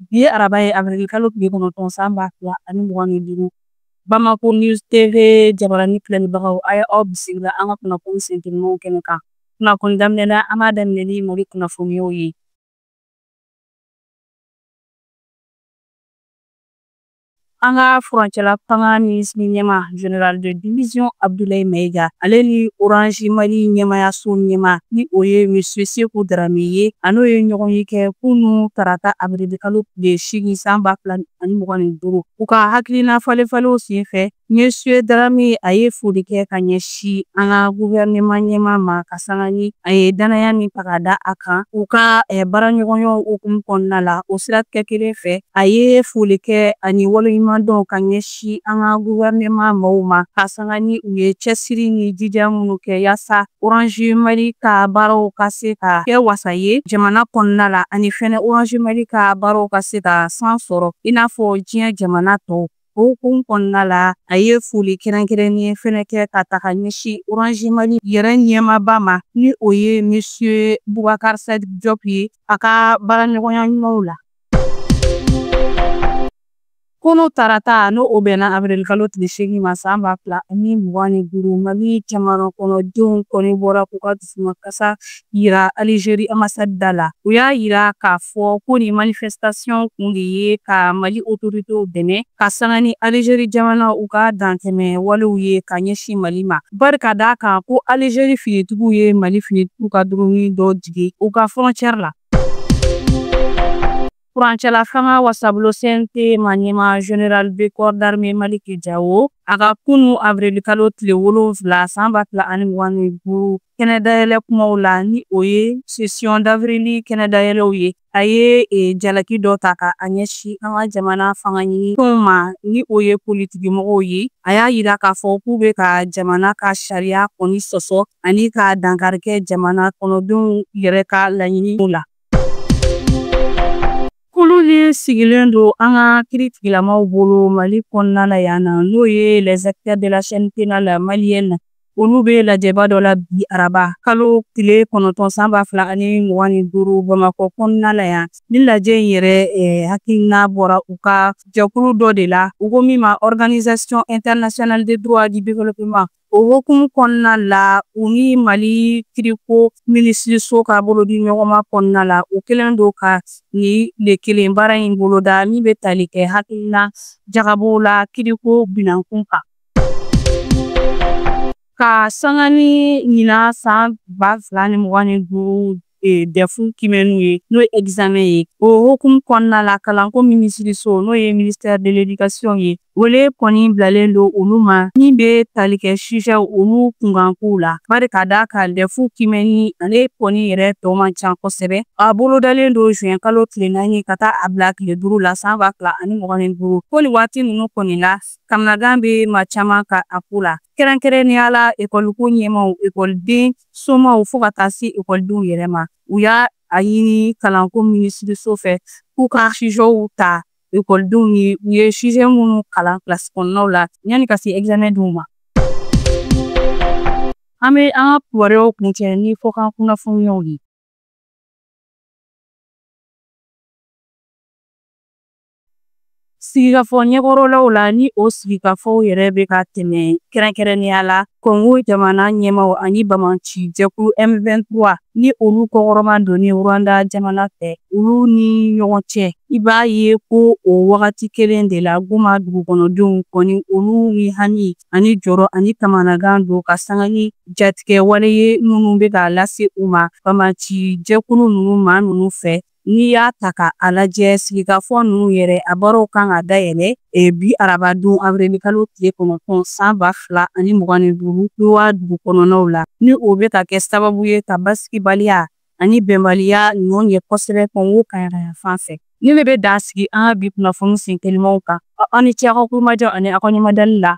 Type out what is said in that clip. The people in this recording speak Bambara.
Bi ye araba ye avril kalo tile kɔnɔntɔn san ba fila ani mugan ni duuru Bamako News TV jabarani filɛlibagaw a ye aw bisimila an ka kunnafoni senteninw kɛnɛ kan kunnafoni daminɛ na an b'a daminɛ ni Mali kunnafoniyaw ye an ka furancɛla fanga minisiri ɲɛma général de division abdulayi mayiga ale ni orange mali ɲɛmayaso ɲɛma ni o ye monsieur seku darame ye a n'o ye ɲɔgɔnye kɛ kunu tarata abirili kalo tile seegin san ba fila ani mugan ni duuru u ka hakilina falen falenw sen fɛ Monsieur Darame a ye foli kɛ ka ɲɛsin an ka gouvernement ɲɛmaa ma ka sanga ni a ye dannaya min ta ka da a kan u ka eh, baaraɲɔgɔnyaw hukumu kɔnɔna la o siratigɛ kelen fɛ a ye foli kɛ ani waleɲuman dɔn ka ɲɛsin an ka gouvernement maaw ma ka sanga ni u ye cɛsiri ni jija minnu kɛ yaasa orange mali ka baaraw ka se ka kɛ wasa ye jamana kɔnɔna la ani fɛnɛ orange mali ka baaraw ka se ka san sɔrɔ i n'a fɔ diɲɛ jamana tɔw O hukumu kɔnɔna la a ye foli kɛrɛnkɛrɛnnen fɛnɛ kɛ ka ta ka ɲɛsin Orange Mali yɛrɛ ɲɛmaaba ma ni o ye Monsieur Boubacar Sadiki Diop ye a ka baaraɲɔgɔnya ɲumanw la. Kunu tarata ni o bɛnna awirilikalo tile seegin ma san ba fila ani mugan ni duuru, Mali jamanakɔnɔdenw kɔni bɔra k'u ka dusumakasi yira Alijeri ambassade da la. U y'a yira k'a fɔ ko nin manifestation kun de ye ka Mali otoritew dɛmɛ ka sanga ni Alijeri jamana u ka dantɛmɛ walew ye ka ɲɛsin Mali ma. Bari ka d'a kan ko Alijeri finitigiw ye Mali finitigiw ka drone dɔ jigin u ka frontière la. Furancɛla fanga wasabulon CNT ma ɲɛma Général de corps d'armée Maliki Jawo a ka kunu avril kalo tile wolonwula san ba fila ani mugan ni duuru kɛnɛdayɛlɛ kumaw la ni o ye session d'avril kɛnɛdayɛlɛw ye a ye e, jalaki dɔ ta ka a ɲɛsin an ka jamana fanga ɲini tɔnw ma ni o ye politikimɔgɔw ye a y'a yira k'a fɔ k'u bɛ ka jamana ka sariya kɔni sɔsɔ ani ka dankari kɛ jamana kɔnɔdenw yɛrɛ ka laɲiniw la Kulu ni sigilen don an ka kiritigilamaw bolo mali kɔnɔna la yan na n'o ye les acteurs de la chaîne pénale malienne olu bɛ lajɛba dɔ la bi araba kalo tile kɔnɔntɔn san ba fila ani mugan ni duuru bamakɔ kɔnɔna la yan ni lajɛ in yɛrɛ eh, hakilina bɔra u ka jɛkulu dɔ de la u ko min ma organisation internationale de droit du développement O hukumu kɔnɔna la u ni Mali kiriko minisiriso ka bolodiɲɔgɔnma kɔnɔna la u kelen don ka tile kelen baara in boloda min bɛ tali kɛ hakilina jagabɔ la kiriko binankun kan ka sanga ni ɲina san ba fila ani mugan ni duuru e, dɛfu kimɛniw ye n'o ye egizamɛn ye o hukumu kɔnɔna la kalanko minisiriso n'o ye ministɛri de ledikasiyɔn ye wele kɔni bilalen don olu ma min bɛ tali kɛ sijɛw olu kunkankow la bari ka d'a kan dɛfu kimɛni ale kɔni yɛrɛ tɔ man ca kosɛbɛ a bolodalen don juin kalo tile naani ka taa a bila tile duuru la san ba fila ani mugan ni duuru ko nin waati ninnu kɔni la kamanagan bɛ maa caman kan a ko la kɛrɛnkɛrɛnnenya la ekɔliko ɲɛmaaw ekɔliden somaw fo ka taa se ekɔlidenw yɛrɛ ma u y'a ɲini kalanko minisiriso fɛ k'u ka sijɛw ta ekɔlidenw ye u ye sijɛ minnu kalan kilasi kɔnɔnaw la yanni ka se ɛgizamɛn donw ma an bɛ an ka kibaruyaw kuncɛ ni kɔkan kunnafoniyaw ye Sigikafɔ ɲɛkɔrɔlaw la ni o sigikafɔw yɛrɛ bɛ ka tɛmɛ kɛrɛnkɛrɛnnenya la Kɔngo jamana ɲɛmaaw ani banbaanci jɛkulu M23 ni olu kɔkɔrɔmadonni Rwanda jamana fɛ olu ni ɲɔgɔn cɛ. I b'a ye ko o wagati kelen de la Goma dugukɔnɔdenw kɔni olu ni hami ani jɔrɔ ani kamanagan don ka sanga ni jatigɛ wale ye minnu bɛ ka lase u ma banbaanci jɛkulu ninnu maa ninnu fɛ. N'i y'a ta ka a lajɛ sigikafɔ ninnu yɛrɛ a baaraw kan ka dayɛlɛ e, bi arabadon awirilikalo tile kɔnɔntɔn san ba fila ani mugan ni duuru Doha dugu kɔnɔnaw la ni o bɛ ka kɛ sababu ye ka basigibaliya ani bɛnbaliya nɔgɔya kosɛbɛ kɔngo kaɲaga yanfan fɛ nin de bɛ dan sigi an ka bi kunnafoni sen telimanw kan aw ni ce aw ka tulomajɔ ani aw ka ɲɛmadali la